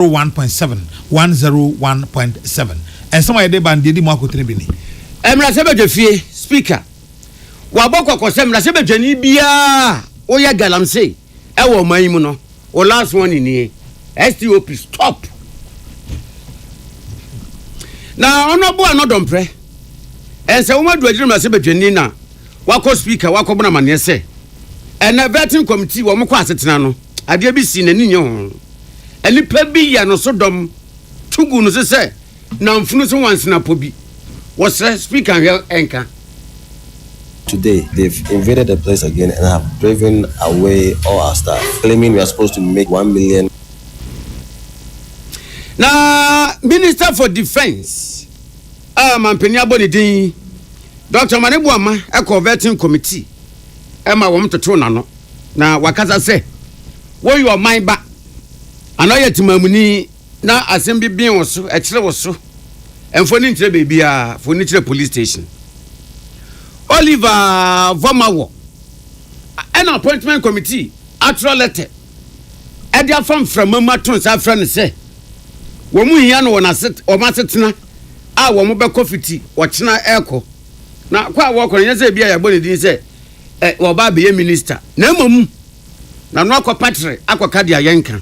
zero one point seven one zero one point seven nsɛm a yɛde ba no deɛ di mu akotene bi ni. Mmarahyɛbadwafie Speaker wabɔ kɔkɔ sɛ mmarahyɛbadwani biara a woyɛ galamsey wɔ ɔman yi mu no wo last warning nie, STOP, stop. Na Honourable Ano Domprɛ Nsawoma Adu Agyina mmarahyɛbadwani na wakɔ Speaker wakɔbɔ no amaneɛ sɛ ɛnɛ Vetting Committee wɔn kɔ asetena no Adeɛ bi si n'ani nyɛ ho. Nnipa bi yɛ no so dɔm to gu no so sɛ namfunu so nwansenapɔ bi. Wɔsrɛ Speaker nhwɛ nka. Today they've invaded the place again and have driven away all our staff claiming we are supposed to make one million. Na Minister for Defence a mampanin abɔ ne din yi, Doctor Mane Boama kɔɔ Vetting Committee ma wɔtotow n'ano. Na wakasa sɛ, Woyɛ ɔman ba, anaa woyɛ temamuni na asɛm bi ben wo so, ɛkyere wo so, mfa ɔni nkyerɛ baabiara, fa ɔni kyerɛ police station. Oliver Vɔmawɔ ɛna appointment committee atwerɛ lɛtɛ ɛde afa mframa mu ato nsa afrɛ no sɛ wɔn hia no wɔn asetena a wɔn bɛkɔ fiti ɔkyena ɛrekɔ na kɔ a wɔrekɔ no nyɛ sɛ ebi a yɛabɔ ne din sɛ Wɔba abɛyɛ minista, na mmom na no akɔpatere akɔka deɛ yɛnka.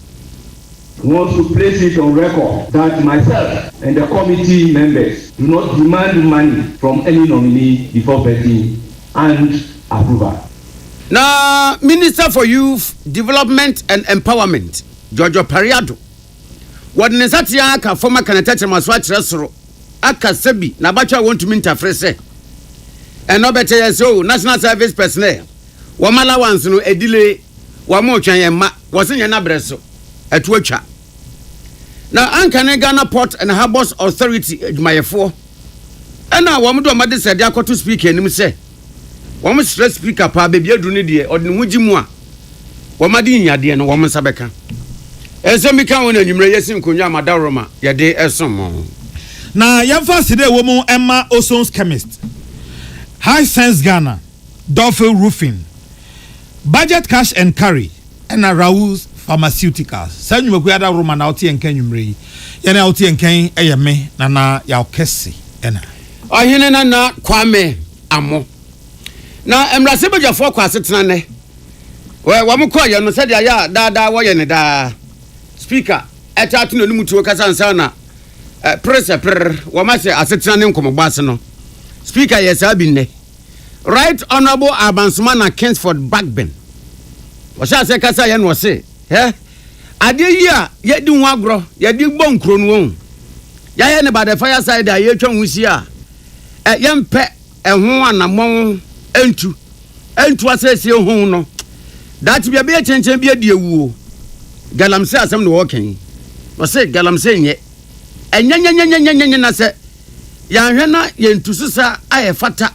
One should place it on record that myself and the committee members do not demand money from any nominee before vetting and approval. Na Minister for Youth Development and Empowerment, George Opare Addo, wɔde ne nsateaa aka fam aka ne tɛkyerɛma so akyerɛ soro. aka sɛ bi n'abatwa a wɔntumi ntafere sɛ ɛnɔ bɛkyɛ yɛ sɛ o national service personnel wɔn allowance no ɛdile wɔn retwɛn yɛn mma wɔse nyɛ n'abrɛ so ɛto atwa na anka ne Ghana Port and Harbours Authority adwumayɛfoɔ ɛna wɔn de wɔn adesrɛde akɔto speaker anim sɛ wɔsrɛ speaker paa baabi aduru no deɛ ɔde ne ho gye mu a wɔn ade yi adeɛ no wɔn nsa bɛka ɛnsɛm bi ka ho na anwummerɛ yɛsi nkonnwa a madaworoma yɛde ɛsom mo na yɛmfa aseda ɛwɔ mu ɛma Osone's Chemist High Sense Ghana Dolphin Roofing Budget Cash and Carry ɛna Raoul's Pharmaceuticals saa nnwumakuo adaworoma na wote yɛn nka anwummerɛ yi yɛn a wote yɛn nkan ɛyɛ me Nana Yaw Kɛse ɛna Ɔhene Nana Kwame Amoh. Na mmarahyɛ badwafoɔ kɔ asetena nnɛ. Wɔ- Wɔn kɔɔyɛ no sɛdeɛ ayɛ a daa daa wɔyɛ no daa. Speaker ɛtaa to n'anim tuo kasa nsa na eh, pere sɛ pere wɔn ahyɛ asetena ne nkɔmmɔbɔ ase no. Speaker yɛ saa bi nnɛ. Right Honourable Abansoma na Kingsford Bagbin. Wɔhyɛ aseɛ kasa yɛ na wɔse, eh, Adeɛ yi a yɛdi ho agorɔ, yɛde bɔ nkuro no wɔn. Yɛayɛ no by the fire side a yɛtwa nwusie a, ɛ, yɛmpɛ ɛho anammɔn ntu, ntu asɛsie hon no. Daakye bi ɛbɛyɛ kyɛnkyɛn bi adi awu o. Galamsey asɛm na ɔɔka yi. Ɔse galamsey nyɛ ɛnyɛnyɛnyɛnyɛnyɛnyɛ na sɛ yɛanhwɛ na yɛntu so saa a ɛfata.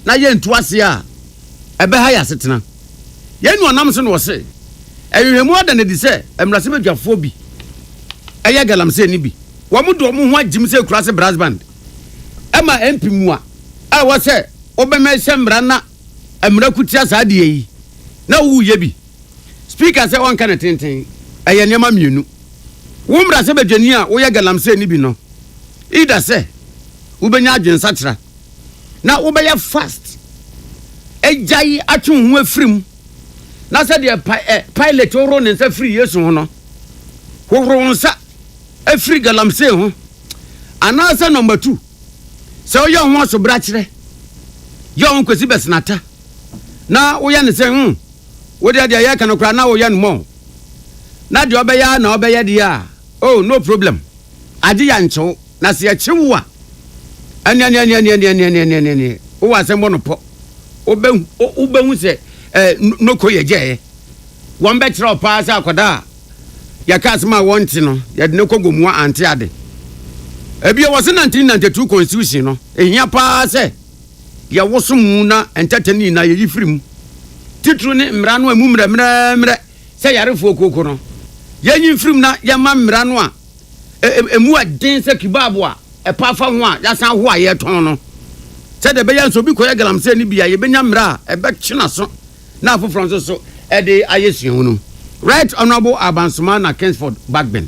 na yɛantu ase a, ɛbɛha yɛn asetena. Yɛn nuanom so na wɔse, Nhwehwɛmu ada no adi sɛ mmarahyɛbadwafoɔ bi yɛ galamsey no bi. Wɔde wɔn ho agyim sɛ Kurase Brass Band ma MP mua a ɛwɔ sɛ wobɛmɛhyɛ mmara na mmara ko tia saa adeɛ yi na woyɛ bi. Speaker sɛ wɔnka no tenten, ɛyɛ nneɛma mmienu. Wo mmarahyɛbadwani a woyɛ galamsey no bi no, either sɛ wobɛnya adwensakyera, na wobɛyɛ fast agyae atwe wo ho afiri mu na sɛdeɛ Pilate hohoro ne nsa firi Yesu ho no hohoro wo nsa afiri galamsey ho anaasɛ nɔmba tu sɛ woyɛ wo ho asobrakyerɛ yɛ wo nkwasi bɛsenata na woyɛ ne sɛ hmm wodeɛ deɛ yɛka no koraa na woyɛ no mɔ na deɛ ɔbɛyɛ na ɔbɛyɛ deɛ a oh no problem agye yɛ nkyew Na sɛ yɛkyere wo a, ɛneɛneɛneɛneɛneɛneɛneɛneɛneɛ, wowɔ asɛm bɔ no pɔ. Wobɛhu, wo- wobɛhu sɛ eh, no- noko yɛ gyɛɛ. Wɔn bɛkyerɛ wo paa sɛ akwadaa a yɛka asɛm a wɔnte no, yɛde no kɔ gomoa ante ade. Ebio wɔse nante nantetuo constitution no, ehia paa sɛ yɛwoso mu na ntɛtɛ no nyinaa yɛyi firi mu. Titiriw ne mmara no a emu mmerɛmmerɛmmerɛ sɛ yare fookoko no, yɛnyi mfiri mu na yɛmma mmara no a Emu yɛ den sɛ kibab a ɛpa fa ho a yɛasan ahoa a yɛretɔn no. Sɛdeɛ ɛbɛyɛ nso obi kɔyɛ galamsey no bi a, yɛbɛnya mmerɛ a ɛbɛtwe n'aso na afoforɔ nso so de ayɛ suahunu. Right Honourable Abansoma Nackensford Bagbin.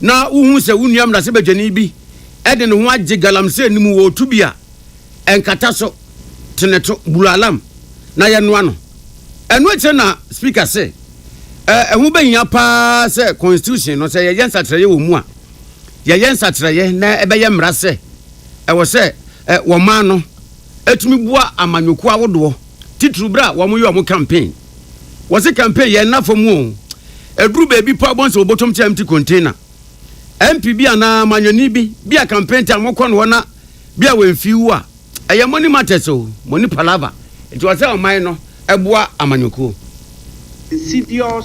na wuhu sɛ wo nua mmarahyɛbadwani bi de ne ho agye galamsey no mu wɔ ɔtu bi a ɛnkata so, to no to, buru alarm, na yɛnoa no. Ɛno akyire na Speaker se, Ɛho bɛhia paa sɛ Constitution no, sɛ yɛyɛ nsakyeraeɛ wɔ mu a, yɛyɛ nsakyeraeɛ na ɛbɛyɛ mmara sɛ ɛwɔ sɛ wɔn ano tumi boa amanyɔkuo ahodoɔ, titiriw berɛ a wɔyɛ wɔn campaign. Wɔse campaign yɛ nna fam oo. Ɛduru baabi paa bɔnse wɔbɔtɔm ti empty container. MP bi anaa manwani bi, bi a campaign time ɔkɔ no hɔ na bi a wemfii wo a, ɛyɛ money matters oo, money palava. Nti ɔsɛ ɔman no boa amanyɔkuo. Insidious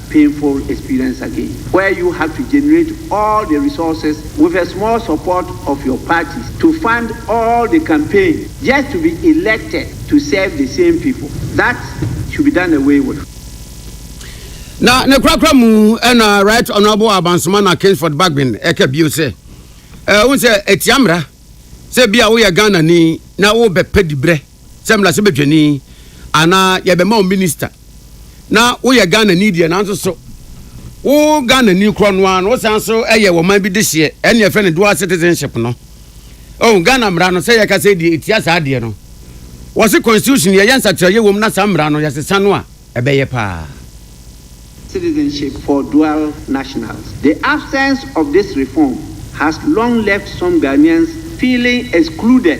painful experience again where you have to generate all the resources with a small support of your parties to fund all the campaign just to be elected to serve the same people. That should be done away with. Na ne korakora mu na Right Honourable Abansoma na Kingsford Bagbin ɛka bio sɛ ɛho sɛ ɛtia mmara sɛ bi a woyɛ Ghana ni na wobɛpɛ dibrɛ sɛ mmarahyɛbadwani anaa yɛbɛma wo minista na woyɛ Ghanani deɛ nanso so wo Ghanani korɔ no ara no wosan so yɛ wɔ man bi de hyeɛ ɛne ɛfɛ no dual citizenship no oh Ghana mmara no sɛ yɛka sɛ deɛ ɛtia saa deɛ no wɔse constitution yɛyɛ nsakyerɛyɛ wɔ mu na saa mmara no yɛsesa no a ɛbɛyɛ paa. citizenship for dual nationals. The absence of this reform has long left some Ghanaians feeling excluded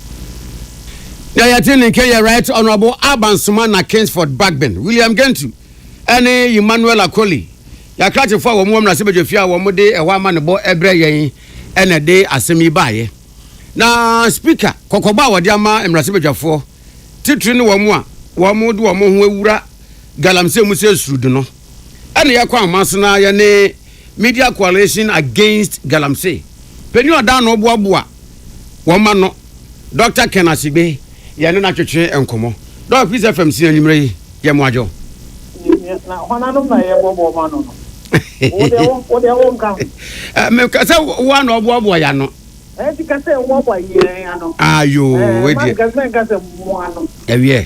Deɛ yɛte ne nka yɛ Right Honourable Alban Sumana Kingsford Bagbin, William Gentu ne Emmanuel Akoli, yɛn akrakyefo a wɔn wɔ mmarahyɛbadwafie a wɔde ɛhɔ amanebɔ brɛ yɛn na ɛde asɛm yi baeɛ. Na Speaker, kɔkɔbɔ a wɔde ama mmarahyɛbadwafoɔ titire ne wɔn a wɔde wɔn ho awura galamsey mu sɛ esurudu no, ɛna yɛkɔ Anwomase na yɛne Media Coalition Against Galamsey panin a ɔda ano boaboa wɔn ano, Dɔkta Ken Asigbe, yɛne no atwetwe nkɔmmɔ. Dɔk Peace FM sin anwummerɛ yi, yɛ mo adwo. Na hɔnanom na yɛboaboa wɔn ano no? Wo deɛ wo wo deɛ wo nka ho. Eh, me ka sɛ wo a na ɔboaboa yɛ ano. Ɛti ka sɛ wɔboa yɛn ano. Ayo, eh, we deɛ. Ɛma nka sɛ nka sɛ mo ano. Ɛwiɛ.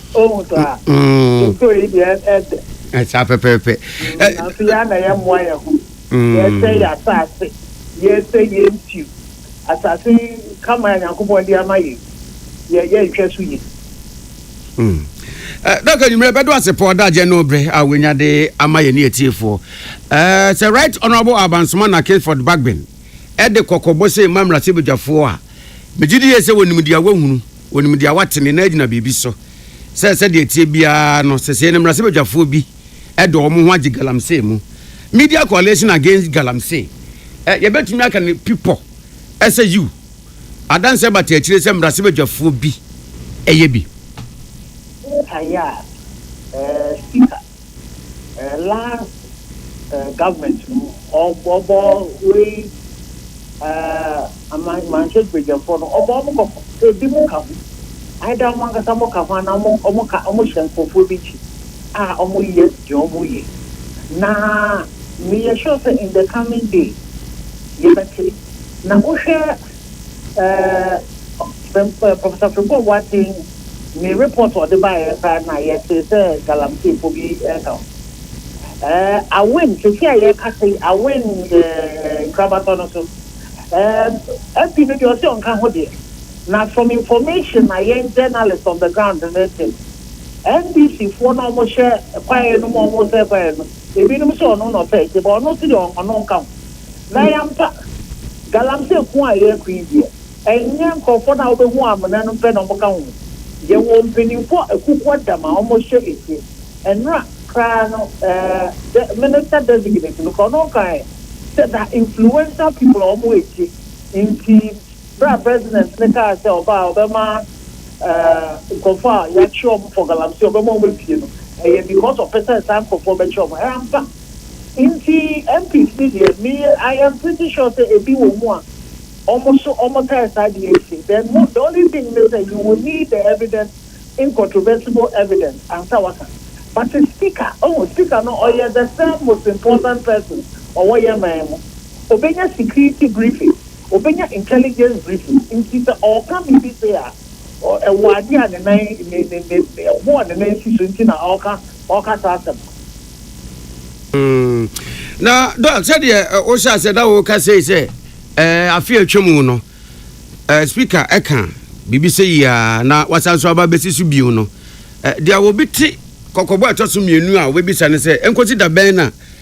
Ohu so a. Mm. Nsuo yi deɛ ɛdɛ. Ɛsa pɛpɛɛpɛ. Nanso yɛn na yɛ mmoa yɛn ho. Mm. Yɛsɛ yɛ asase. Yɛsɛ yɛ nsuo. Asase kama a Nyankopɔn de ama yɛ. Yɛ yɛ nhwɛ so yie. Mm. Eh, Dɔkta Nwumire bɛdo ase pɔ da agye no bere a wenya de ama yɛ ne atiefoɔ. Eh, sɛ Right Honourable Abansoma na Kingsford Bagbin ɛde kɔkɔbɔ sɛ mma mmarahyɛbadwafoɔ a, megye di yie sɛ wɔnim deɛ wɔahunu. Wɔnim deɛ wate ne nan agyina biribi so, sɛ sɛdeɛ ɛteɛ biara no, sesei no mmarahyɛbadwafoɔ bi de wɔn ho agye galamsey mu. Media Coalition Against Galamsey, ɛ, yɛbɛtumi aka no pipɔ, ɛ, sɛ yiw, adanseɛ bata akyire sɛ mmarahyɛbadwafoɔ bi yɛ bi. Wotaa yɛ a, ɛ, sika. eh last eh government no ɔbɔ wei eh aman manhyɛ dwagyɛfoɔ no ɔbɔ ɔmo kɔ ebi mo ka ho either ɔmo ankasa mo ka ho anaa ɔmo ɔmo ka ɔmo hyɛ nkorɔfoɔ bi kyi a ɔmo yɛ deɛ ɔmo yɛ na meyɛ sure sɛ in the coming days yɛbɛte na wohwɛ. Ɛɛ Professor Frimpong Boateng ne report a ɔde baeɛ koraa no na yɛtee sɛ Galamseyfoɔ bi reka ho. Ɛɛ Awen, seesei a yɛrekasa yi, Awen ɛɛ Nkrabatɔ no so, ɛɛ MP no deɛ ɔse ɔnka ho deɛ, na from information a yɛn journalist on the ground no rete no, NDCfoɔ no a wɔhyɛ kwaeɛ no mu a wɔresɛe kwaeɛ no, ebinom se ɔno na ɔsɛe nti, but ɔno se deɛ ɔno nka ho. Na yɛampa. Galamsey ko a yɛreko yi deɛ, ɛnyɛ nkorɔfoɔ no a wobɛhu amena no pɛ na wɔka ho. Yɛwɔ mpaninfoɔ a akukua dam a wɔhyɛ akyire. Nnora koraa no ɛɛ Minister Designate no koraa ɔno ɔkaeɛ sɛ na influential people a wɔwɔ akyire nti berɛ a President no kaa sɛ ɔbaa a ɔbɛma ɛɛ nkorɔfoɔ a yɛakye wɔn for Galamsey ɔbɛma wɔn apue no ɛyɛ because ɔpɛ sɛ saa nkorɔfoɔ bɛkyɛ wɔn. Ɛyɛ ampa. Nti MPs no deɛ me I am pretty sure sɛ ebi wɔ mu a wɔn nso wɔn tae saa adeɛ yi sei then mo the only thing ne sɛ you will need the evidence incontrovertible evidence ansa waka but speaker ohu speaker no ɔyɛ the third most important person ɔwɔ yɛ man mu ɔbɛnya security briefing ɔbɛnya intelligence briefing nti sɛ ɔɔka biribi sei a Ɛwɔ ade a ne nan, ne, ne, ne, ne ɛbo a ne nan si so nti na ɔreka, ɔreka saa asɛm no. Mm. Na, Don, sɛdeɛ eh, wohyɛ aseɛ na woka sei sɛ eh, afe a atwa mu no, eh, speaker ɛka biribi sɛ yi a na wasan so aba bɛsi so bio no, eh, deɛ wɔbɛte kɔkɔbɔ a ɛtɔ so mmienu a wɔbɛbisa no sɛ ɛnkɔsi da bɛn na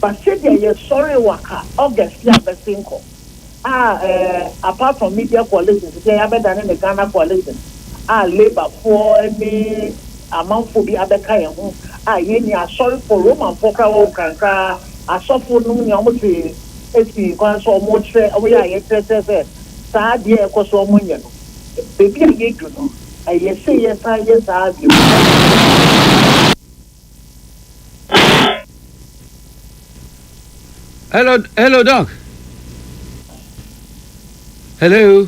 But sɛdeɛ yɛsɔree wɔ ha August yi a bɛsen kɔ a eh, apart from media coalition sɛdeɛ yɛabɛdane no Ghana coalition a labourfoɔ ne amanfoɔ bi abɛka yɛn ho a yɛnni asɔrefoɔ, Romanfoɔ koraa wɔ nkrankra asɔfo nom nea wɔte asi kwan so wɔkyerɛ, wɔyɛ a yɛkyerɛ kyerɛ sɛ saa adeɛ a ɛkɔ so a wɔnyɛ no baabi a yɛdu no ɛyɛ sei yɛsan yɛ saa bio. Hello, hello, doc. Hello.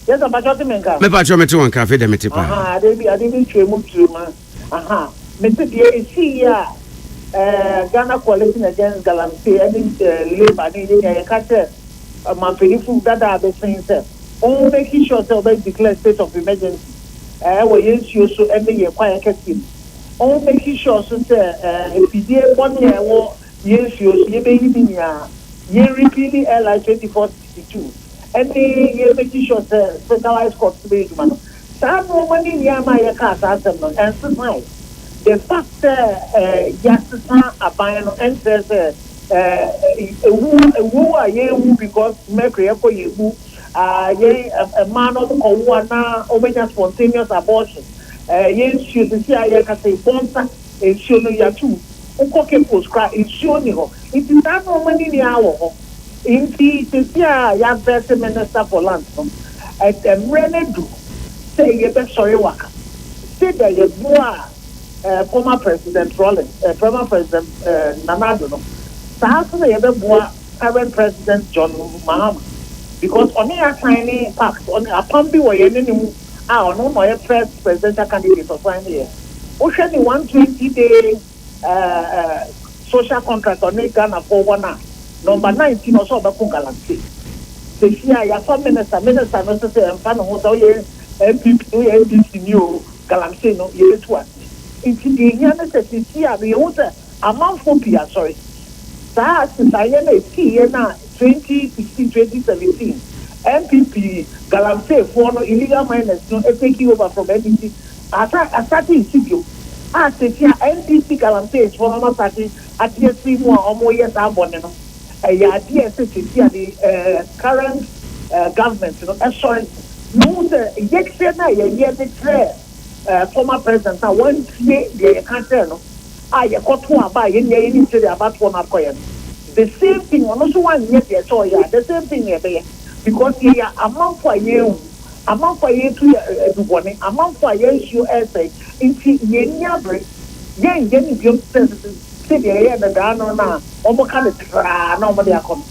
Yes, I'm patching me nka. Me patching me to one cafe dem tipa. Aha, ade bi ade bi twe mu twe ma. Aha. Me se die isi ya. Eh, Ghana Coalition Against Galamsey any eh, labor ni ye ya ka che eh, manfedifo dada be sen se. On make sure se obey declare state of emergency. Eh, wo ye nsuo so ene ye kwa ye kese. Ɔwɔ making sure so sɛ afidie bɔne a ɛwɔ yɛn nsuo so yɛbɛyi ne nyinaa, yɛn repealing LI twenty four sixty two ɛne yɛn making sure sɛ specialized court no bɛyɛ adwuma no, saa nnoɔma no nyinaa maa yɛkaa saa asɛm no, ɛnsesae. The fact sɛ yɛasesa aban no ɛnkyerɛ sɛ ɛwuo a yɛrewu because mercury kɔ yɛn mu yɛn mmaa no wɔn kɔwo a na wɔn bɛnya spontaneous abortion, yɛn nsuo sisi a yɛn kasa yi bɔnsa nsuo no yɛato mu, wo kɔ Cape Coast koraa nsuo nni hɔ, nti saa nnoɔma no nyinaa wɔ hɔ, nti sisi a yɛavɛte minister for lands no, mmerɛ no adu sɛ yɛbɛsɔre waka, sɛdeɛ yɛboaa former president Rawlings, former president Nana Addo no, saa nso na yɛbɛboa. current president John Mahama because ɔne yɛ asan ne pact ɔne apam bi wɔ yɛne ne mu a ɔno na ɔyɛ first presidential candidate ɔsan ne yɛ wohwɛ ne one twenty day ɛɛ eh, ɛɛ eh, social contract ɔne Ghana fo wɔn a number nineteen ɔsɛ ɔbɛko galamsey sɛsi a yɛafa minister minister no sɛ sɛ ɛmfa ne ho sɛ woyɛ npp no woyɛ ndc ni o galamsey no yɛbɛtu ase nti deɛ ɛhia ne sɛ sɛsi a no yɛhu sɛ Amanfoɔ pii asɔre. Saa asesaeɛ no a ɛsiiɛ no a 2016, 2017 NPP galamseefoɔ no, illegal miners no taking over from NDC asa asate resi bio a seesei a NDC galamseesfoɔ no asate ate afiri mu a wɔreyɛ saa bɔne no, ɛyɛ adeɛ a ɛsɛ seesei a the eh current eh government no sɔre na wɔhu sɛ yɛkyerɛ no a yɛyɛ de kyerɛ eh, former president a wantie deɛ yɛka kyerɛɛ no a yɛkɔto aba a yɛnni ayɛ nim sɛdeɛ abatoɔ no akɔyɛ no the same thing ɔno nso wanyɛ deɛ ɛsɛ ɔyɛ a the same thing na ɛbɛyɛ because yɛyɛ amanfo a yɛrewu amanfo a yɛretu yɛ eh, adubɔne amanfo a yɛn nsuo ɛresɛe nti yɛnni abere yɛn yɛn ne biom sɛ sɛdeɛ ɛyɛ no daa no no a wɔka no traa na wɔde akɔ no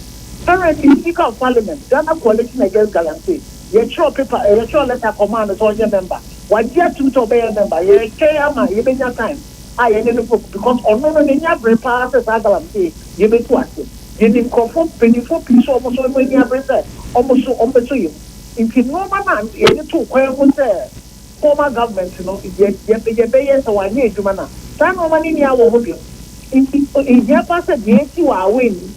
currently speaker of parliament Ghana coalition against Galamsey Yɛkyerɛw paper, yɛkyerɛw lɛta kɔmaa no sɛ ɔnyɛ mɛmba. Wagye atum sɛ ɔbɛyɛ mɛmba. Yɛretwɛn ama yɛbɛnya time a yɛne no bɛkɔ because ɔno no n'ani abere paa sɛ saa galamsey yei bɛtu ase. Yɛnim nkurɔfoɔ mpanyimfoɔ pii sɛ wɔn nso wɔn ani abere sɛ wɔn nso wɔbɛsɔ yɛn mu. Nti nnoɔma no a yɛde too kwan mu sɛ former government no yɛ yɛ yɛbɛyɛ sɛ wɔanyɛ adwuma no a, saa nnoɔma no nni awɔ ho bio. Nti ɛhia paa sɛ deɛ ɛsi wɔ Awɛ yi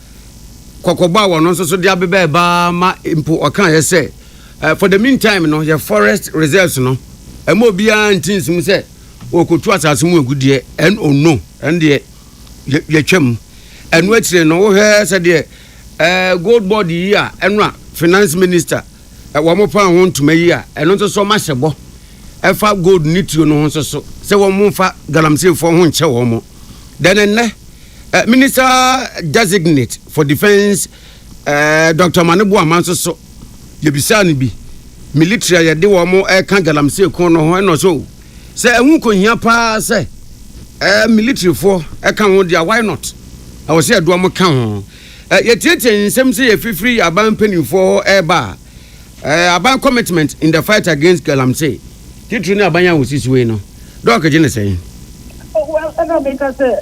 kɔkɔbɔ a wɔn nso so de abeba ɛbaa ma mpo ɔkaeɛ sɛ eh, for the meantime no yɛ forest reserves no ɛma obiara nti nsum sɛ wɔkɔtu asase mu agudeɛ ɛn ono ɛn deɛ yɛtwam ɛno akyire no wohwɛ sɛdeɛ eh, gold board yi a ɛno a finance minister eh, wɔn paa ho ntoma yi a ɛno nso so mahyɛ bɔ ɛfa gold ne tuo no ho nso so sɛ wɔn mfa galamseyfoɔ ho nkyɛ wɔn mo Then nnɛ, eh, Minister Designate for Defence, eh, Dr. Mane Boama nso so, yɛbisaa no bi, military a yɛde wɔn ɛka galamsey ko no ho, ɛna ɔsɛ o, sɛ ɛho kɔhia paa sɛ eh, militaryfoɔ ɛka ho deɛ, why not? Ɛwɔ sɛ yɛde wɔn ka ho. Eh, yɛtiatia nsɛm sɛ yɛfifiri yɛ aban mpanimfoɔ hɔ ɛreba a, Eh, aban commitment in the fight against galamsey, titiri ne aban a wosi so yi no, Doc gye ne sɛn? Oh well, ɛna meka sɛ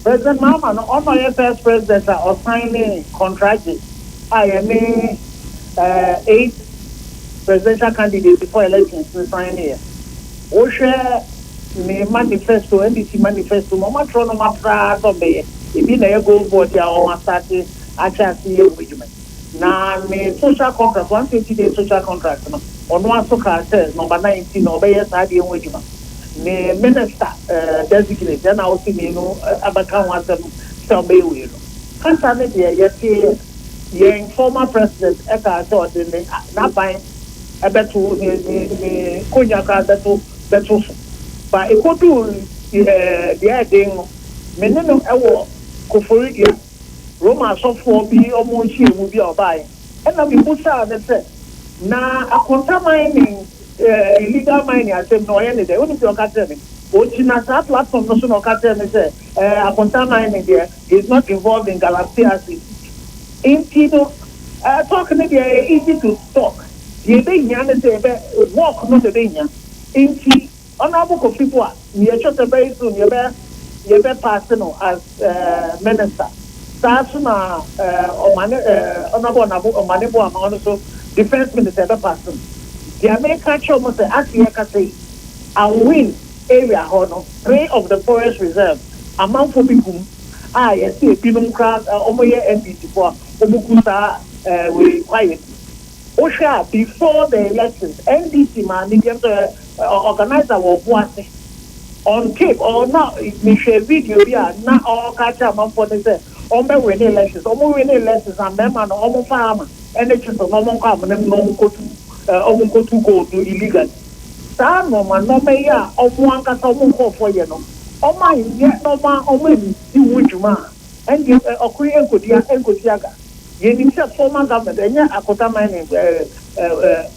President Mahama no, ɔno na ɔyɛ first president a ɔsan ne kɔntragye a yɛne eh, eight presidential candidates for elections no san ne yɛ. Wohwɛ ne manifesto, NDC manifesto mu, wɔatrɔ nɔma koraa sɛ ɔmbɛyɛ, ebi na ɛyɛ goal board a wɔasate ahyɛ ase yɛ wɔ adwuma yi. Na ne social contract, one twenty days social contract no, ɔno ara nso kaa sɛ number nine nti na ɔbɛyɛ saa adeɛ ho adwuma. Ne minister designate ɛna ɔse mmienu abɛka ho asɛm sɛ ɔbɛyɛ wei no. Kasa no deɛ yɛteeɛ, yɛn former president kaa sɛ ɔde ne n'aban bɛto, ne ne ne konya koraa bɛto bɛto so. But ɛkɔduu deɛ ɛyɛ den no, me ne no wɔ Koforidua. Roma asɔfoɔ bi wɔn nhyiamu bi a ɔbaeɛ ɛna mebusaa no sɛ, na akonta mining, eh, illegal mining asɛm no ɔyɛ ne dɛn? Wonim deɛ ɔka kyerɛɛ me? Ɔgyina saa platform no so na ɔka kyerɛɛ me sɛ, eh, akonta mining deɛ, he is not involved in galamsey activities. Nti no, eh, talk no deɛ ɛyɛ easy to talk. Deɛ ɛbɛhia ne sɛ yɛbɛ, work no na ɛbɛhia. Nti. Honourable Kofi Boa, nea ɛkyerɛ sɛ very soon yɛbɛ yɛbɛ pass no as eh, minister. Saa nso na eh, Omane eh, Honourable Onabo Omane Boa ma ɔno nso defence minister yɛbɛ pass no. Deɛ meka akyerɛ wɔn sɛ ase yɛkasa yi, Awin area hɔ no, three of the forest reserves amanfoɔ bi gu mu a yɛse ebinom koraa eh, wɔn yɛ NDC foɔ a wɔn gu saa eh, wei kwaeɛ mu. Wohwɛ a before the elections, NDC maa ne deɛ sɛ Ɔ organiser wɔ ɔbo ase. On tape ɔ na me hwɛ video bi a na ɔ ɔka kyerɛ amanfoɔ no sɛ ɔmo bɛ wene elections. Ɔmo wene elections a mɛɛma no ɔmo nfa hammer ɛne chisel na ɔmo nkɔ amena mu na ɔmo nkɔ tu ɛ ɔmo nkɔ tu gold no illegally. Saa nnoɔma nnoɔma yi a ɔmo ankasa ɔmo nkorɔfoɔ yɛ no ɔmo anyɛ na ɔmo a ɔmo anni ho dwuma a ɛndeɛ ɛ ɔko yi ɛnkɔ di a ɛnkɔ si aga. Yɛnim sɛ former government ɛnyɛ akotaman ne ɛ ɛ ɛ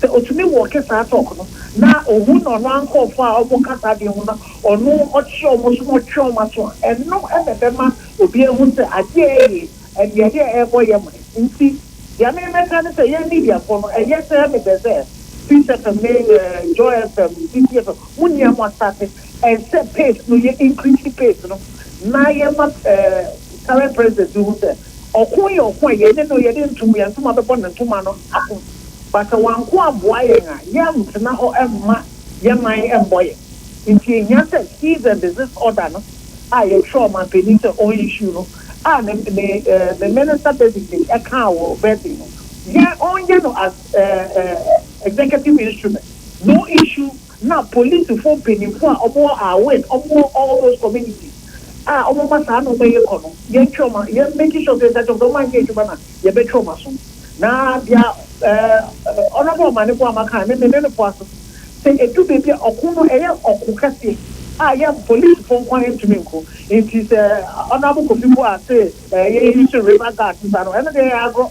Sɛ otumi wɔke saa tɔk no na ohu na ɔno ankorɔfoɔ a ɔmo ka saa adeɛ ho na ɔno ɔkye ɔmo so na ɔtwe ɔmo aso a, ɛno na ɛbɛma obi ahu sɛ adeɛ a ɛɛye ɛdeɛ adeɛ a ɛɛbɔ yɛ mene. Nti deɛ me mɛka ne sɛ yɛn mediafoɔ no ɛyɛ sɛ me pɛ sɛ Peace FM ne Joy FM, Citi FM mo nyinaa mo asate ɛyɛ sɛ pace no yɛ increase pace no na yɛma current president no hu sɛ Ɔko yɛ ɔko a yɛne no yɛde ntom yɛn ntoma bɛbɔ ne ntoma no ako. But sɛ wanko amboa yɛn a, yɛntena hɔ mma yɛn man mmɔ yɛn. Nti ehia sɛ cease and desist order no a yɛtwerɛ ɔmanpanin sɛ ɔn issue no a ne ne ne minister designate ɛkaa wɔ birthday no, yɛn ɔnyɛ no as ɛɛ ɛɛ executive instrument. No issue. na polisifo mpanyimfo a wɔwɔ Awen, wɔwɔ all those communities a wɔma saa nneɛma yi kɔ no, yɛntwe wɔn a, yɛn make sure sɛ yɛka kyerɛ wɔn sɛ wɔanyɛ adwuma no a, yɛbɛtwe wɔn aso. Na deɛ ɛɛ Honourable Omane Boamah kae no, me ne no foa so. Sɛ edu baabi a, ɔko no ɛyɛ ɔko kɛseɛ a yɛn polisifo nko ara ntumi nko. Nti sɛ Honourable Kofi Buah se ɛɛ yɛn use river guards saa no, ɛno deɛ ɛyɛ agorɔ.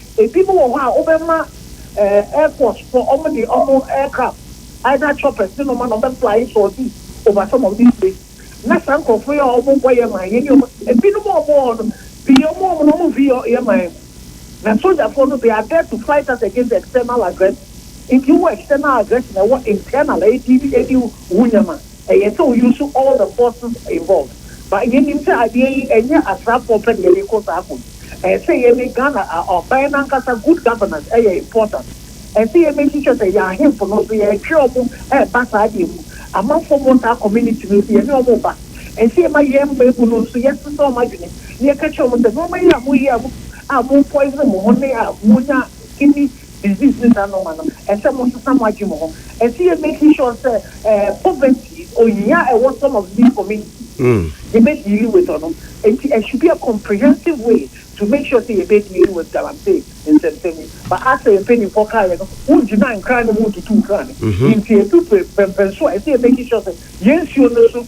Ebinom wɔ hɔ a wobɛma Air Force fo wɔn de wɔn aircraft either choppers ne nnoɔma na wɔbɛ fly sɔɔte over some of these places na saa nkorɔfoɔ yi a wɔn nkɔ yɛ man yɛne wɔn ebinom a wɔn wɔ hɔ no pii wɔn wɔn na wɔn mfi yɛ yɛ man mu na sogyafoɔ no they are there to fight us against external aggression nti wowɔ external aggression ɛwɔ internal a edi edi wo nyɛma. Ɛyɛ sɛ o use all the forces involved but yɛ nim sɛ adeɛ yi ɛnyɛ asraafoɔ pɛ na yɛde rekɔ saa ko yi ɛyɛ sɛ yɛ ne Ghana aban no ankasa good governance ɛyɛ important ɛyɛ sɛ yɛ make sure sɛ yɛ ahenfo no nso yɛ twe ɔmo ɛba saa deɛ mu amanfoɔ mo saa community no nso yɛ ne ɔmo ba ɛyɛ sɛ yɛ ma yɛn mmabu no nso yɛ sesa ɔmo adwene na yɛ ka kyerɛ ɔmo sɛ nnoɔma yi a mo yɛ a mo a mo poison mo ho ne a mo nya kidney Disease ne saa nnoɔma no ɛsɛ mo sesa mo adwene mu ho ɛsɛ yɛ making sure sɛ poverty ohia ɛwɔ some of these communities no yɛ bɛ deal with ɔno nti ɛ should be a comprehensive way to make sure sɛ yɛ bɛ deal with galamsey nsɛmsɛm yi but as a mpaninfoɔ kaa yɛ no wo gyina nkran ne mu wo tutu nkran ne nti ɛdu prɛmpɛnso a ɛsɛ yɛ making sure sɛ yɛ nsuo no so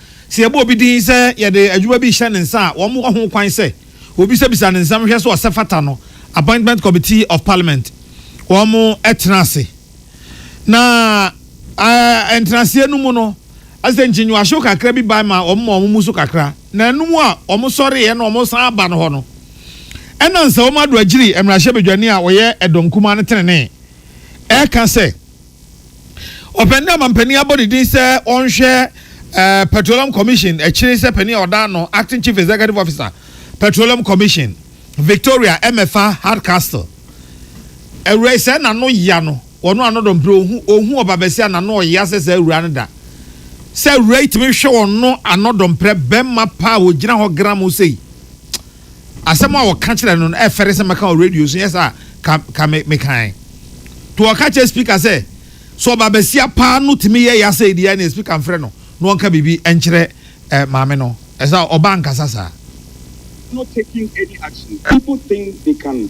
Sɛ yɛbɔ obi din sɛ yɛde adwuma bi rehyɛ ne nsa a, wɔwɔ ho kwan sɛ wɔbisabisa ne nsɛm hwɛ sɛ ɔsɛ fata no. Appointment Committee of Parliament, wɔtena ase na ntenaseɛ no mu no, asɛ nkyinyiwahyew kakra bi bae ma wɔma wɔn mu so kakra, na ɛno mu a wɔsɔreeɛ na wɔsan aba no hɔ no, ɛna Nsawam Ado Agyiri mmarahyɛbadwani a ɔyɛ Ɛdɔnkumaa no tenenee, ɛka sɛ. Ɔpɛni dɛ ɔmampanin abɔ ne din sɛ ɔnhwɛ Petroleum Commission akyiri sɛ panin a ɔda ano, Acting Chief Executive Officer, Petroleum Commission, Victoria Emefa Hardcastle. Awuraa yi, sɛ n'ano ya no, ɔno ano dɔ mprɛ ɔhu, ɔhu ɔba basia n'ano ɔya sɛ saa awuraa no da. Sɛ awuraa yi tumi hwɛ ɔno ano dɔ mprɛ bɛma pa a ɔgyina hɔ gram wo sei. Asɛm a wɔka kyerɛ no no ɛfɛre sɛ mɛka wɔ radio so, nyɛ saa a, ka mekae. To wɔka kyerɛ Speaker sɛ, sɛ ɔbabasia paa no tumi yɛ ya sɛi deɛ a, neɛ Speaker mfrɛ no na ɔnka biribi nkyerɛ maame no. Ɛsɛ sɛ ɔba ankasa saa. no taking any action people think they can.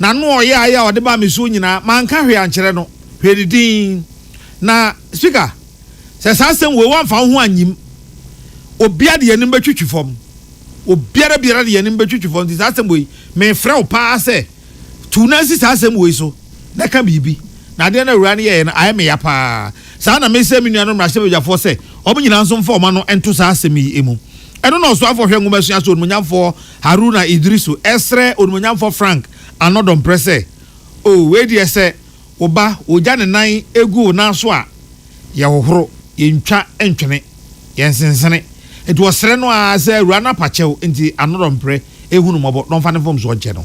na no a ɔyɛ ae a ɔde baa me so nyinaa, manka hwee ankyerɛ no. Hwɛ ne din. Na, Speaker, sɛ saa asɛm wei woamfa wo ho anyim, obiara de anim bɛtwitwi fam. Obiara biara de anim bɛtwitwi fam. Nti saa asɛm wei, mefrɛ wo pa ara sɛ, tu wo nan si saa asɛm wei so na ka biribi. Na adeɛ no a Awuraa no yɛeɛ no, ayɛ me ya pa ara. Saa na mesrɛ me nuanom mmarahyɛbadwafoɔ sɛ, wɔn nyinaa nso mfa wɔn ano nto saa asɛm yi mu. Ɛno na Ɔsoafoɔ Hwɛ Nwoma Suaso Onimuonyamfoɔ Haruna Iddrisu ɛsrɛ Onimonyamfoɔ Frank Ano Domprɛ sɛ, O wei deɛ sɛ wo ba wogya ne nan gu wo nan so a, yɛhohoro, yɛntwa ntwene, yɛnsensene. Nti ɔsrɛ no ara sɛ Awuraa no apakyɛw nti Ano Domprɛ ɛhu no mmɔbɔ na ɔmfa ne mfomsoɔ nkyɛ no.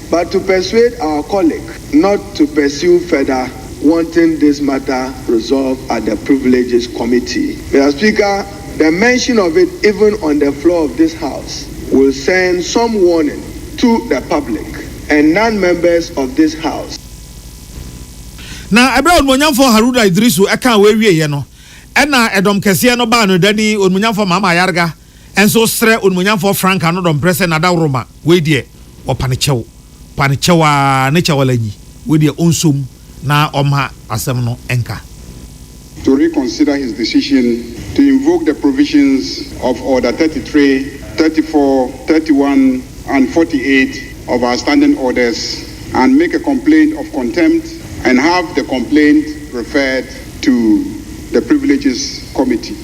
But to persuade our colleague not to pursue further wanting this matter resolved at the Privileges Committee, Mister Speaker, the mention of it even on the floor of this House will send some warning to the public and non-members of this House. Na ɛberɛ a Onimuonyamfoɔ Haruna Iddrisu kaa wei wieeɛ no, ɛnna ɛdɔm kɛseɛ no baa no dani, Onimuonyamfoɔ Mahama Ayarga, nso srɛ Onimuonyamfoɔ Frank ano dɔmprɛ sɛ Nadaworoma, wei deɛ ɔpa ne kyɛw, pa ne kyɛw aa ne kyɛw ala nyi, wei deɛ ɔnso mu na ɔmma asɛm no nka. to reconsider his decision to invoke the provisions of Order thirty three, thirty four, thirty one and forty eight of our Standing Orders and make a complaint of contempt and have the complaint referred to the Privileges Committee.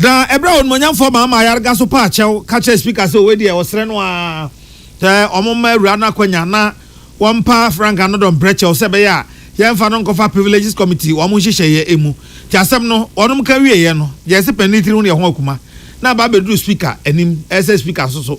Na ɛberɛ a onimuonyamfoɔ maa maa yarega so paa kyɛw ka kyerɛɛ speaker sɛ wei deɛ ɔsrɛ no ara sɛ wɔn mma awura no akwanya na wɔmpa Frank Anodong Mprɛkyɛw sɛ ɛbɛyɛ a yɛmfa no nkɔfa Privileges Committee wɔn nhyehyɛeɛ mu. Nti asɛm no wɔn ka wieeɛ no gyɛɛse panin tiri ho deɛ ho akuma na aba abɛduru speaker anim ɛsɛ speaker nso so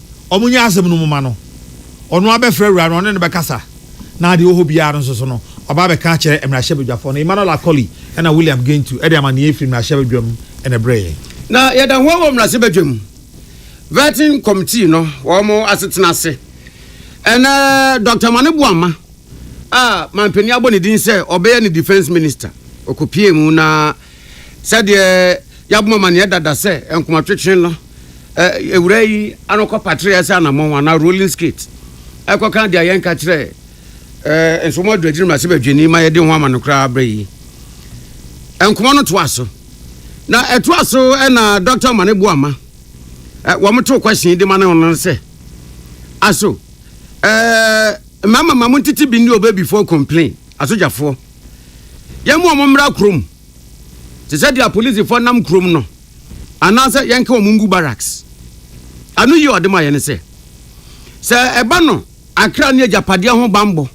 wɔnyɛ asɛm no mu ma no. Ɔno ara bɛfrɛ awuraa no, ɔne no bɛkasa, na deɛ ɔwɔ hɔ biara no nso so no, waba abɛka akyerɛ mmarahyɛbadwafoɔ no. Emmanuel Acoli na William Gentu de amanneɛ firi mmarahyɛbadwam na ɛbrɛɛ yɛn. Na yɛda hɔ wɔ mmarahyɛbadwam Vetting Committee no wɔn asetena ase. Ɛnnɛ, Doctor Mane Boamah a manpanin abɔ ne din sɛ ɔbɛyɛ ne Defence Minister, ɔkɔpuee mu na Sɛdeɛ yɛabɔ mo amaneɛ dada sɛ nkomatwetwe no, awuraa yi ano kɔpateree ɛsɛ anamɔn anaa rolling skate ɛkɔka deɛ yɛnka kyerɛɛ Nsomo Adu Agyiri Mmarahyɛ Badwani ma yɛde ho ama no koraa berɛ yi. Nkɔmmɔ no toa so. Na ɛtoa so na Dɔkta Omane Boama wɔtoo question de ma no no sɛ, Aso, mmarima ma montete bi nni ɔbɛ before complain, asogyafoɔ. Yɛn ma wɔmmra kurom, te sɛ deɛ apolisifo nam kurom no, anaasɛ yɛnka wɔn ngu barracks. Ɛno yɛ ɔde ma yɛn sɛ, sɛ ɛba no akra ne agyapadeɛ ho bammɔ,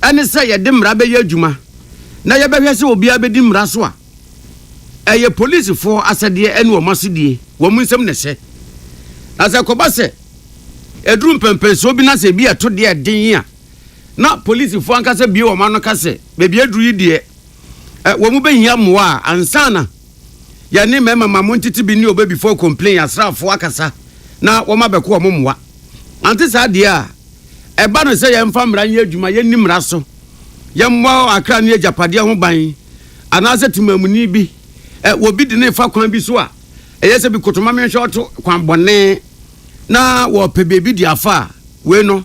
ɛne sɛ yɛde mmara bɛyɛ adwuma na yɛbɛhwɛ sɛ obiara bɛdi mmara so a, ɛyɛ polisifo asɛdeɛ ɛne wɔn asodie, wɔn nsam na ɛhyɛ. Na sɛ ɛkɔba sɛ ɛduru mpɛnpɛnsoɔ bi na sɛ ebi ɛto deɛ ɛden a, na polisifo ankasa bue wɔn ano ka sɛ, Baabi aduru yi deɛ, ɛ, wɔn bɛhia mmoa a, ansa na yɛne mmarima ma mo ntete bi ne ɔbɛ before complain asraafoɔ akasa na wɔn abɛko wɔn mmoa. Ante saa deɛ a, ɛba no sɛ yɛmfa mmara nyɛ adwuma, yɛnni mmara so, yɛmmɔ akra ne agyapadeɛ ho ban, anaasɛ temammuni bi, ɛ, wɔ bi de no refa kwan bi so a, ɛyɛ sɛ bi koto ma menhwɛ ɔto kwan bɔne na wɔpɛ baabi de afa a, wei no.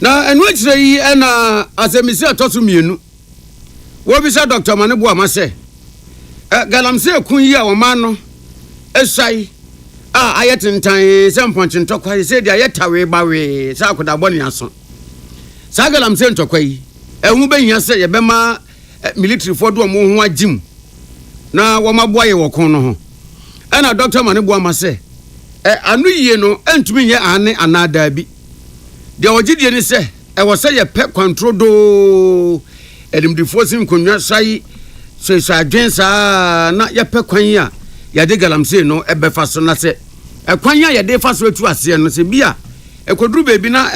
Na ɛno akyire yi na asɛmmisa a ɛtɔ so mmienu. Wɔbisa Dɔkta Mane Boama sɛ, eh, galamsey ɛko yi a wɔmaa no ɛsae a ayɛ tentan sɛ mpɔnkye ntɔkwa yi, sɛ deɛ ayɛ tawee bawee sɛ akodaa bɔne aso. Saa galamsey ntɔkwa yi, ɛho bɛhia sɛ yɛbɛma eh, militirifoɔ de wɔn ho agye mu na wɔaboa yɛn wɔ ko no ho. Ɛna dɔkta ma no boa ma sɛ, eh, ano yie no ntumi nyɛ aane anaa daabi. Deɛ ɔgye die ne sɛ ɛwɔ sɛ yɛpɛ kwanturo doo. Animdefoɔ si nkonnwa sa yi hyehyɛ adwene saa na yɛpɛ kwan a yɛde galamsey no bɛfa so na sɛ ɛkwan a yɛde fa so atu aseɛ no sɛ bi a ɛkɔduru baabi na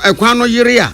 ɛkwan no yere a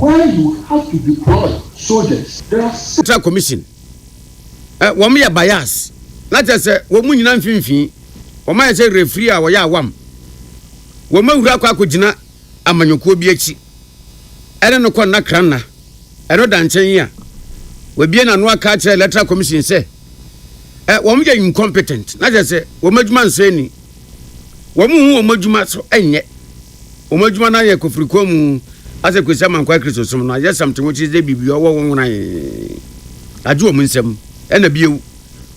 Where you have to deploy soldiers there are six. Electoral commission ɛ wɔn yɛ bias na kyerɛ sɛ wɔn mu nyina mfimfini wɔn ayɛ sɛ referee a ɔyɛ awam wɔn awura akɔ akɔ gyina amanyɔkuo bi akyi ɛne no kɔ nna kra nna ɛno da nkyɛn yi a wabie n'ano aka akyerɛ electoral commission sɛ ɛ wɔn yɛ incompetent na kyerɛ sɛ wɔn adwuma nsɔ ani wɔn nhu wɔn adwuma so ɛnyɛ. Wɔn adwuma no ayɛ kɔ firi kɔn mu asɛ Kwesi Amankwaa Kristo som no ayɛ something which is dɛ biribi ɔwɔ wɔn wonai agye wɔn nsam ɛna bio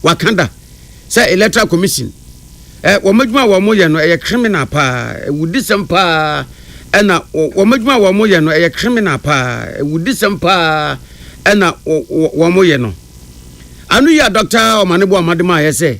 waka da sɛ electoral commission ɛ wɔn adwuma a wɔn yɛ no ɛyɛ criminal paa ɛwudisɛm paa ɛna wɔn adwuma a wɔn yɛ no ɛyɛ criminal paa ɛwudisɛm paa ɛna wɔn yɛ no ano yi a Dɔkta Ɔmanebo Amademaayɛ sɛ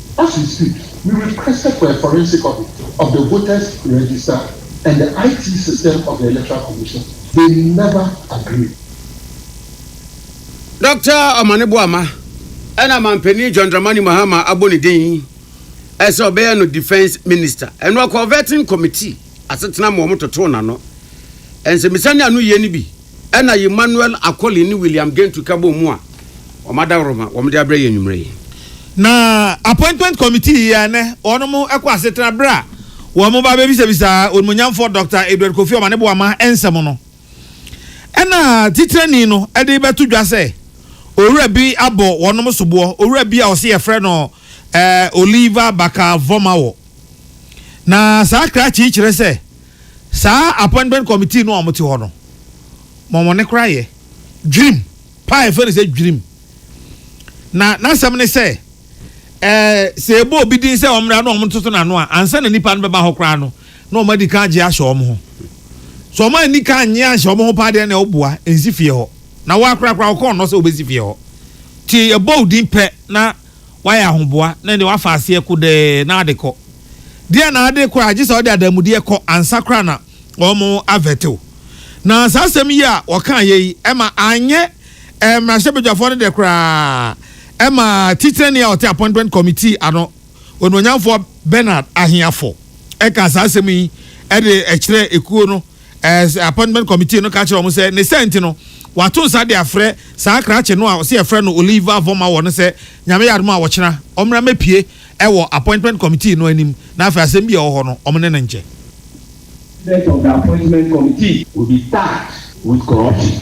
Ɔsi si, Me requested for a forensic audit of the voters register and the IT system of the electoral commission, they never agreed. Doctor Omane Boamah na Manpanin John Dramani Mahama abɔ ne din sɛ ɔbɛyɛ no Defence Minister. Ɛno ɔkɔɔ Vetting Committee asetena ma wɔtotoo n'ano. Nsɛmmisa ne anoyie no bi. Ɛna Emmanuel Akoli ne William Gentu ka bɔɔ mu a wɔn adaworoma wɔn de abrɛ yɛn anwummerɛ yi. Na appointment committee yi a ɛnɛ wɔn mo ɛkɔ asetena berɛ a wɔn mo ba bɛbisabisa Onimuonyamfoɔ Doctor Edward Kofi Ɔmane Boama nsɛm no ɛna titirani no ɛde bɛto dwa sɛ Owura bi abɔ wɔn mo soboɔ Owura bi a ɔse yɛfrɛ no ɛɛ Oliver Baka Vɔmawɔ na saa krakye yi kyerɛ sɛ Saa appointment committee no a wɔte hɔ no, ma wɔn koraa yɛ dwirim paa a yɛfrɛ no sɛ dwirim. Na n'asɛm ne sɛ, ɛɛ sɛ yɛbɔ obi din sɛ ɔmmra na wɔtoto n'ano a, ansa na nnipa no bɛba hɔ koraa no, na wɔadi kan agye ahyɛ wɔn ho. Sɛ wɔn anni kan annye anhyɛ wɔn ho paa deɛ na ɛwɔ boa, nsi fie hɔ. Na wo ara koraa koraa, wokɔɔ nnɔ sɛ wobɛsi fie hɔ. Nti yɛbɔ wo din pɛ na wayɛ ahoboa na ɛnde wafa aseɛ kodɛɛ na ade kɔ. Deɛ na ade kɔ a gye sɛ ɔde adamudeɛ kɔ ansa koraa na wɔn avɛte wo. Na saa asɛm yi a wɔkaeɛ yi ɛma anyɛ ɛɛ mmarahyɛbadwafoɔ no dɛ koraa ɛma titenani a ɔte appointment committee ano onuonyamfoɔ Bernard Ahiaffo ɛkaa saa asɛm yi ɛde ɛkyerɛɛ ekuo no ɛɛ appointment committee no ka kyerɛ wɔn sɛ ne sɛ nti no wato nsa de afrɛ saa krakye no a ɔsi ɛfrɛ no Oliver Vomawɔ no sɛ nyame yɛ adum a wɔkyena ɔmmra mɛpie ɛwɔ appointment committee no anim na afei asɛm bi a ɛwɔ hɔ no wɔn ne no nkyɛ. President of the appointment committee will be tagged with corruption.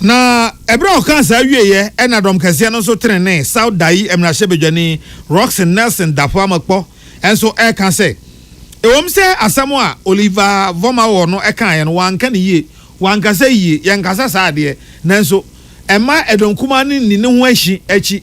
Na ɛberɛ a ɔkaa saa wieeɛ ɛna dɔm kɛseɛ no nso tenenee, South Dayi mmarahyɛbadwani Rockson Nelson Darfour Amakpɔ nso ɛreka sɛ ɛwom sɛ asɛm a Oliver Vormaor no kaeɛ no wanka no yie, wankasa yie, yɛnkasa saa adeɛ, nanso ɛmma ɛdɔnkumaa no nni ne ho ahi akyi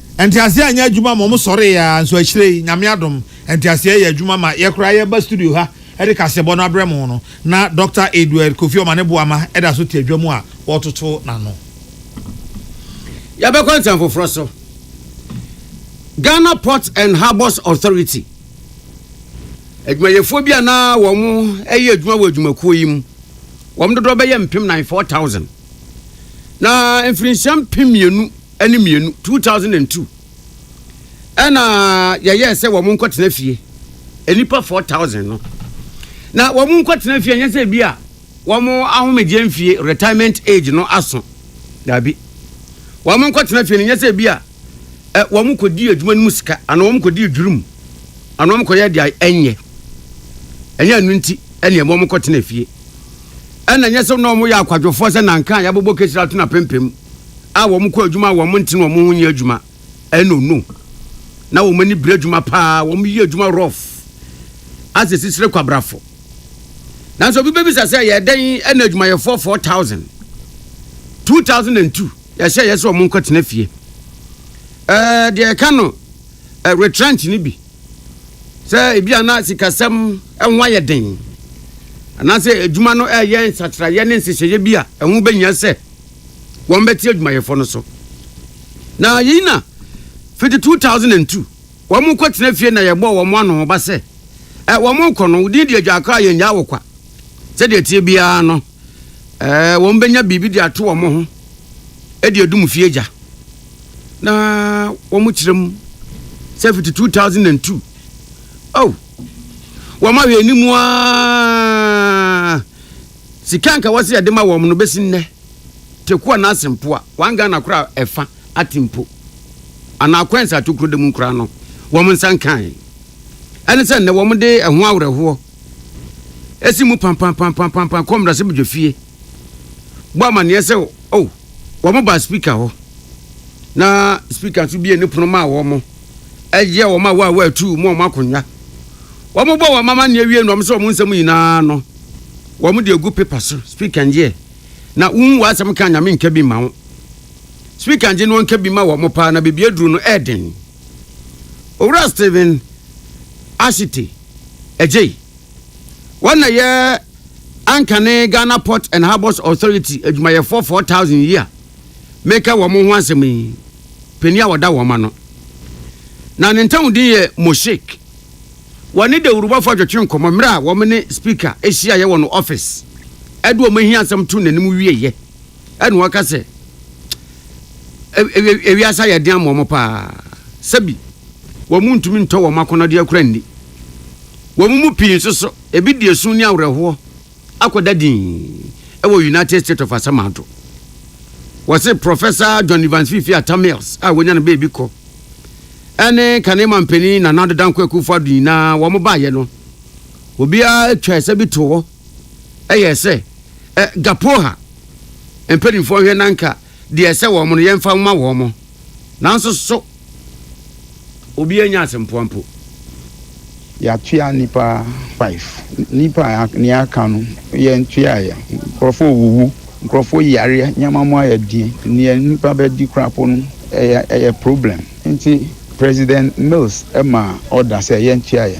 Nteaseɛ anyɛ adwuma ma wɔn sɔree aa nso akyire yi Nyame adom nteaseɛ yɛ adwuma ma yɛ koraa yɛ ba studio ha de kaseɛbɔ no abrɛ mo no na Dɔkta Edward Kofi Ɔmane Boama da so te adwa mu a wɔretoto n'ano. Yɛbɛkɔ nsɛm foforɔ so. Ghana Ports and Harbours Authority adwumayɛfoɔ bi a na wɔn yɛ adwuma wɔ adwumakuo yi mu, wɔn dodoɔ bɛyɛ mpem nan, 4,000, na mfirinhyia mpem mmienu ne mmienu, two thousand and two, ɛna yɛyɛɛ sɛ wɔn nkɔtena fie nnipa four thousand no na wɔn nkɔtena fie nyɛ sɛ bi a wɔn ahomegyeɛ mfie retirement age no aso daabi wɔn nkɔtena fie no nyɛ sɛ bi a ɛ wɔn kɔdi adwuma no mu sika anaa wɔn kɔdi adwiri mu anaa wɔn kɔyɛ deɛ ɛnyɛ ɛnyɛ ɛno nti ɛne wɔn kɔtena fie ɛna nyɛ sɛ na wɔn yɛ akwadwofoɔ sɛ nanka a yɛabobɔ kesira to na pempem a wɔn kɔ adwuma a wɔn nte na wɔn ho nyɛ adwuma ɛno no na wɔn ani bere adwuma paa wɔn yɛ adwuma rough asɛ sisire kwabrafo nanso obi bɛbisa sɛ yɛ dɛn ɛna adwumayɛfoɔ 4000 2002 yɛhyɛ yɛ sɛ wɔn nkɔ tena fie ɛɛ deɛ ɛka no eh, retrench no bi sɛ ebi a na sikasɛm ɛho ayɛ den anaasɛ adwuma no ɛyɛ nsakyerɛeɛ ne nhyehyɛeɛ bi a ɛho bɛhia sɛ wɔn bɛte adwumayɛfoɔ no so. Na yei na fiti 2002 wɔn kɔ tena fie na yɛbɔɔ wɔn ano ba sɛ eh, wɔn kɔ no wodin di agya akora yɛn gyaa wo kwa sɛdeɛ tie biara no eh, wɔn bɛnya biribi de ato wɔn ho de adum fie gya na wɔn kyerɛ mu sɛ fiti 2002 oh wɔn ahwɛ anim aa Sika nka wɔse yɛde ma wɔn no bɛsi nnɛ Tekoa no ase mpo a wɔn Ghana kora ɛfa ate mpo anaa coins a tokuro da mu koraa no wɔn nsa nkae ɛne sɛ nnɛ wɔn de ɛho awerɛhoɔ ɛsi mu pampampampampampa kɔ mmarahyɛbadwafie bɔ amaneɛ sɛ oh wɔn baa speaker hɔ na speaker nso bie ne pono maa wɔn ɛyɛ wɔn a wɔawɔ atuu mu wɔn akonnwa. Wɔbɔ wɔn amanneɛ wie no, wɔhyɛ wɔn nsɛm nyinaa no, wɔde agu pepa so, Speak and Hear, na wonhu w'asɛm ka a Nyame nka bi mma wo. Speak and Hear no nka bi ma wɔn paa na baabi aduru no ɛyɛ den. Owura Stephen Ashite Adjei, wɔn na yɛ Ankane Ghana Port and Harbours Authority adwumayɛfoɔ 4,000 yi a, mereka wɔn ho asɛm yi, panin a ɔda wɔn ano. Na ne ntam din yɛ Moshik. Wɔne dawurubɔfo atwetwe nkɔmmɔ mmere a wɔn ne Speaker hyiaeɛ wɔ no office. Ɛde wɔn ahia asɛm too n'anim wieɛ, ɛna ɔka sɛ, Ewi ewiase ayɛ den ama wɔn paa. Sɛbi, wɔn ntumi ntɔ wɔn akɔnnɔdeɛ kora nni. Wɔn mu pii nso so, ebi di esu ne awerɛhoɔ. akɔda dinn wɔ United States of Asamado. Wɔse Prɔfɛsa John Evans Fifi Atta Mills a wɔnya no baabi kɔ ne kane manpanin Nana Addo Dankwa Akufo-Addo nyinaa wɔn baeɛ no, obiara twaa ɛsɛ bi too hɔ yɛɛ sɛ ɛ, Gapoha mpanimfoɔ nhwɛ na anka deɛ ɛsɛ wɔn no yɛmfa mma wɔn. Nanso so. Obiara nnya asɛmfua mpo. Yɛatua nnipa five. Nnipa a nea aka no yɛntuaeɛ. Nkurɔfoɔ rewuwu, nkurɔfoɔ yareɛ, nneɛma mu ayɛ den. Deɛ nnipa bɛdi koraa mpo no, ɛyɛ ɛyɛ problem. Nti President Mills maa order sɛ yɛntuaeɛ.